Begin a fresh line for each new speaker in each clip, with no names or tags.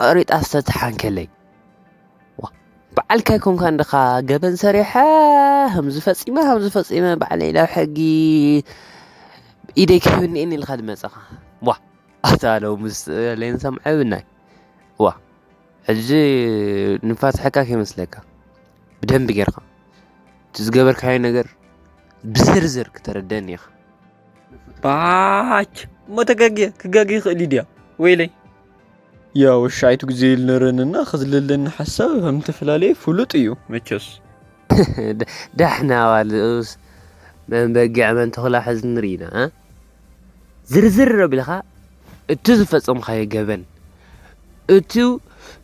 ጠሪጣ ዝተተሓንከለይ በዓልካይ ኮንካ እንድኻ ገበን ሰሪሐ ከምዚ ፈፂመ ከምዚ ፈፂመ ባዕለይ ናብ ሕጊ ኢደይ ክህብኒ እኒ ኢልካ ድመፀኻ ዋ ኣታ ለው ምስ ሌን ሰምዐ ብናይ ዋ ሕጂ ንፋትሐካ ከይመስለካ ብደንቢ ጌርካ እቲ ዝገበርካዮ ነገር ብዝርዝር ክተረደኒ ኢኻ ባች
ሞ ተጋጊየ ክጋጊ ይኽእል እዩ ድያ ወይለይ ያው እሺ ኣይቱ ግዜ ይልንርንና ክዝልልን ሓሳብ ከም ተፈላለየ ፍሉጥ እዩ መቸስ
ዳሕና ዋልኡስ መን በጊዕ መን ተኹላ ሕዚ ንርኢና እ ዝርዝር ረቢልኻ እቲ ዝፈጸምካዮ ገበን እቲ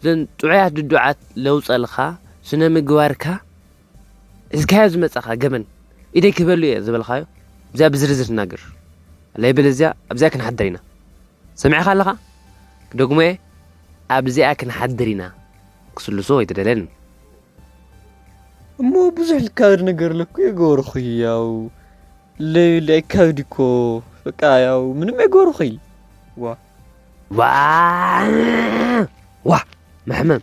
ዘን ጥዑያት ድዱዓት ለውጸልካ ስነ ምግባርካ ሒዝካዮ ዝመጻኻ ገበን ኢደይ ክህበሉ እየ ዝበልካዮ ብዚኣ ብዝርዝር ትናገር ኣለይበለዚያ ኣብዚኣ ክንሓድር ኢና ሰሚዕኻ ኣለኻ ክደግሞ እየ ኣብዚኣ ክንሓድር ኢና ክስልሶ ኣይተደለን
እሞ ብዙሕ ልካብድ ነገር ለኩ የገበርኩ ያው ለዩላይ ካብድ እኮ በቃ ያው ምንም የገበርኩ ዋ ዋ
ዋ መሕመም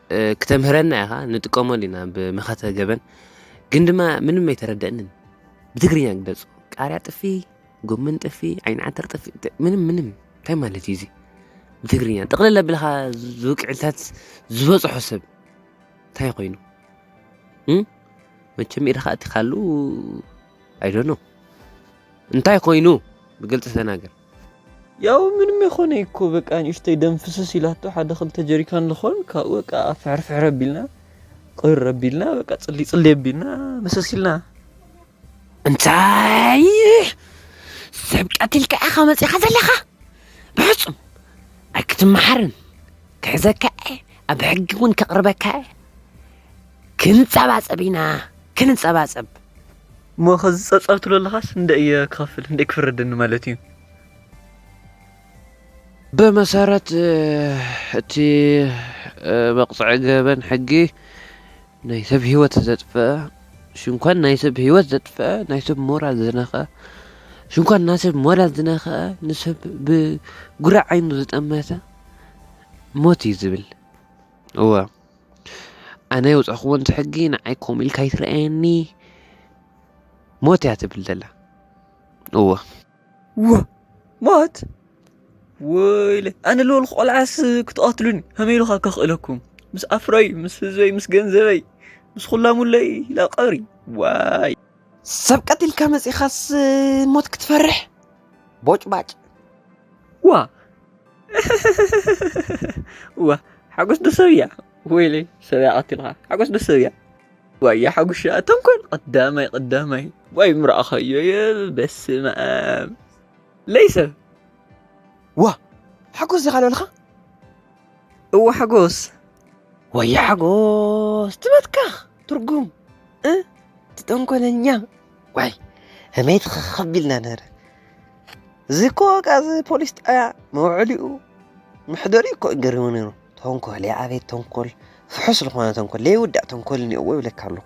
ክተምህረና ኢኻ ንጥቀመሉ ኢና ብመኸተ ገበን ግን ድማ ምንም ኣይተረደእንን ብትግርኛ ግለፁ ቃርያ ጥፊ ጎመን ጥፊ ዓይንዓተር ጥፊ ምንም ምንም እንታይ ማለት እዩ እዚ ብትግርኛ ጥቕልል ኣብልኻ ዝውቅዕልታት ዝበፅሖ ሰብ እንታይ ኮይኑ መቸም ኢድኻ እትካሉ ኣይዶኖ እንታይ ኮይኑ ብግልፂ ተናገር ያው
ምንም የኾነ እኮ በቃ ንእሽተይ ደም ፍስስ ኢላቶ ሓደ ክልተ ጀሪካን ልኾን ካብኡ በቃ ፍሕርፍሕር ኣቢልና ቅር ኣቢልና በቃ ፅሊ ፅሊ ኣቢልና መሰስ ኢልና
እንታይ ሰብ ቀቲልካ ኢኻ መፂኻ ዘለኻ ብፍፁም ኣይክትመሓርን ክሕዘካ እየ ኣብ ሕጊ እውን ከቕርበካ እየ ክንፀባፀብ ኢና ክንፀባፀብ
እሞ ከዚ ጸብጻብ ትብሎ ኣለኻስ እንደ እየ ክኸፍል እንደ ክፍረደኒ ማለት እዩ።
ብመሰረት እቲ መቕጽዒ ገበን ሕጊ ናይ ሰብ ህይወት ዘጥፍአ ሽንኳን ናይ ሰብ ህይወት ዘጥፍአ ናይ ሰብ ሞራል ዝነኸ ሽንኳን ናይ ሰብ ሞራል ዝነኸ ንሰብ ብጉራዕ ዓይኑ ዝጠመተ ሞት እዩ ዝብል እወ ኣነ የውፃኹዎ ንቲ ሕጊ ንዓይ ኮም ኢልካ ይትረኣየኒ ሞት እያ ትብል ዘላ እወ ዎ
ሞት ወይለ ኣነ ልወልኩ ቆልዓስ ክትቐትሉኒ ከመይ ኢሉካ ከኽእለኩም ምስ ኣፍረይ ምስ ህዝበይ ምስ ገንዘበይ ምስ ኹላሙለይ ላብ ቀብሪ ዋይ ሰብ
ቀቲልካ መጺኻስ ሞት ክትፈርሕ ቦጭባጭ ዋ
ዋ ሓጎስ ዶ ሰብ እያ ወይለይ ሰብ እያ ቀቲልካ ሓጎስ ዶ ሰብ እያ ዋያ ሓጉሻ ተንኮል ቀዳማይ ቀዳማይ ዋይ ምራእኸዮ የ በስመ ኣም ለይሰብ ዋ
ሓጎስ ዚኻልበልኻ
እወ ሓጎስ ወየ
ሓጎስ ትበትካኽ ትርጉም እ ትጠንኮለኛ ዋይ ህመይቲ ከኸቢልና ነረ እዚ እኮ ቃዚ ፖሊስ ጣያ መውዕሊኡ መሕደሪ እኮ ገሪሙ ነይሩ ተንኮል ኣቤት ተንኮል ፍሑስ ዝኾነ ተንኮል ለይውዳእ ተንኮል እኒኦዎ ይብለካ ኣለኹ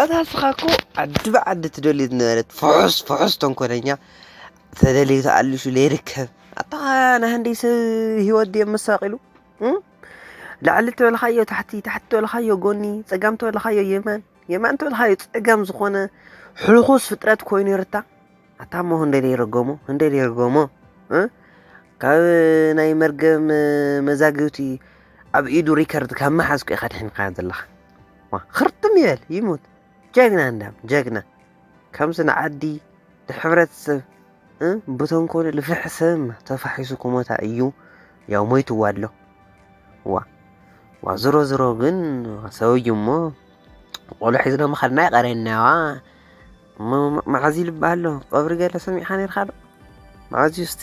ኣታ ንስኻ እኮ ዓዲ ብዓዲ ትደልዩ ዝነበረት ፍሑስ ፍሑስ ተንኮለኛ ተደልዩ ተኣልሹ ዘይርከብ ኣታ ናይ ህንደይ ሰብ ሂወት ድዮም መሳቂሉ ላዕሊ ተበልኻዮ ታሕቲ ታሕቲ ተበልኻዮ ጎኒ ፀጋም ተበልኻዮ የማን የማን ተበልኻዮ ፀጋም ዝኾነ ሕልኩስ ፍጥረት ኮይኑ ይርታ ኣታ እሞ ህንደይ ዘይረገሞ ህንደይ ዘይረገሞ ካብ ናይ መርገም መዛግብቲ ኣብ ኢዱ ሪከርድ ካብ መሓዝኩ ኢኻ ድሒንካ ዘለኻ ኽርትም ይበል ይሙት ጀግና እንዳም ጀግና ከምዚ ንዓዲ ንሕብረተሰብ ብተንኮሉ ልፍሕ ሰብ ተፋሒሱ ክሞታ እዩ ያው ሞይትዋ ኣሎ ዋ ዋ ዝሮ ዝሮ ግን ሰውዩ እሞ ቆሎ ሒዝና ምኻድና ይቐረናዋ መዓዝ ይልባ ኣሎ ቀብሪ ገለ ሰሚዕኻ ነርካ ዶ መዓዝ እዩ እስቲ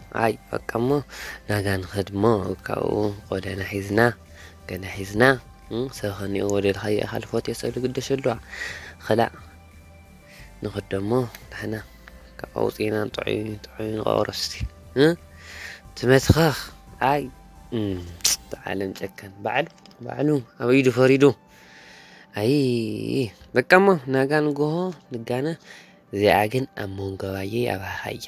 ኣይ በቃ እሞ ናጋ ንኸድ እሞ ካብኡ ቆደና ሒዝና ገለ ሒዝና ሰብ ኸኒኡ ወደልኻዮ ኢኻ ልፎትዮ ሰብ ልግደሽ ኣለዋ ኸላእ ንኸዶ እሞ ንሕና ካብ ኣውፅኢና ንጥዑይ ጥዑይ ንቐቕረስቲ ትመትኻኽ ኣይ ዓለም ጨከን ባዕሉ ባዕሉ ኣብ ኢዱ ፈሪዱ ኣይ በቃ እሞ ናጋ ንጎሆ ንጋነ እዚኣ ግን ኣብ መንጎባየይ ኣባኻ እያ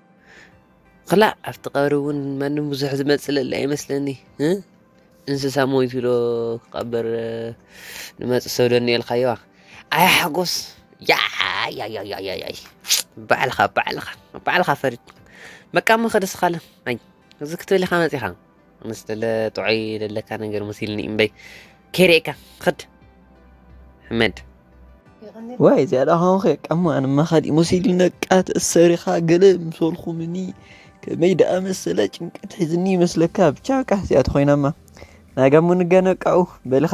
ኽላእ ኣብቲ ቀብሪ እውን ማንም ብዙሕ ዝመፅለለ ኣይመስለኒ እንስሳ ሞይቱ ዶ ክቐበር ንመፅእ ሰብ ዶ እኒኤልካዮዋ ኣያ ሓጎስ ያያያያይ ባዕልኻ ባዕልኻ ባዕልኻ ፈሪድ በቃ እሞ ከደስኻለ ኣይ እዚ ክትብል ኢኻ መፂኻ ምስ ስለ ጥዑይ ዘለካ ነገር መሲልኒ እዩ እምበይ ከይርእካ ኽድ ሕመድ
ወይ ዝያዳ ኸንኸ ቀማ ንመኸዲ መሲሉ ነቃት እሰሪኻ ገለ ምስ በልኩምኒ ከመይ ደኣ መሰለ ጭንቀት ሒዝኒ ይመስለካ ብቻ በቃ እዚኣቶ ኮይናማ ናይ ጋሞ ንገነቃኡ በልኻ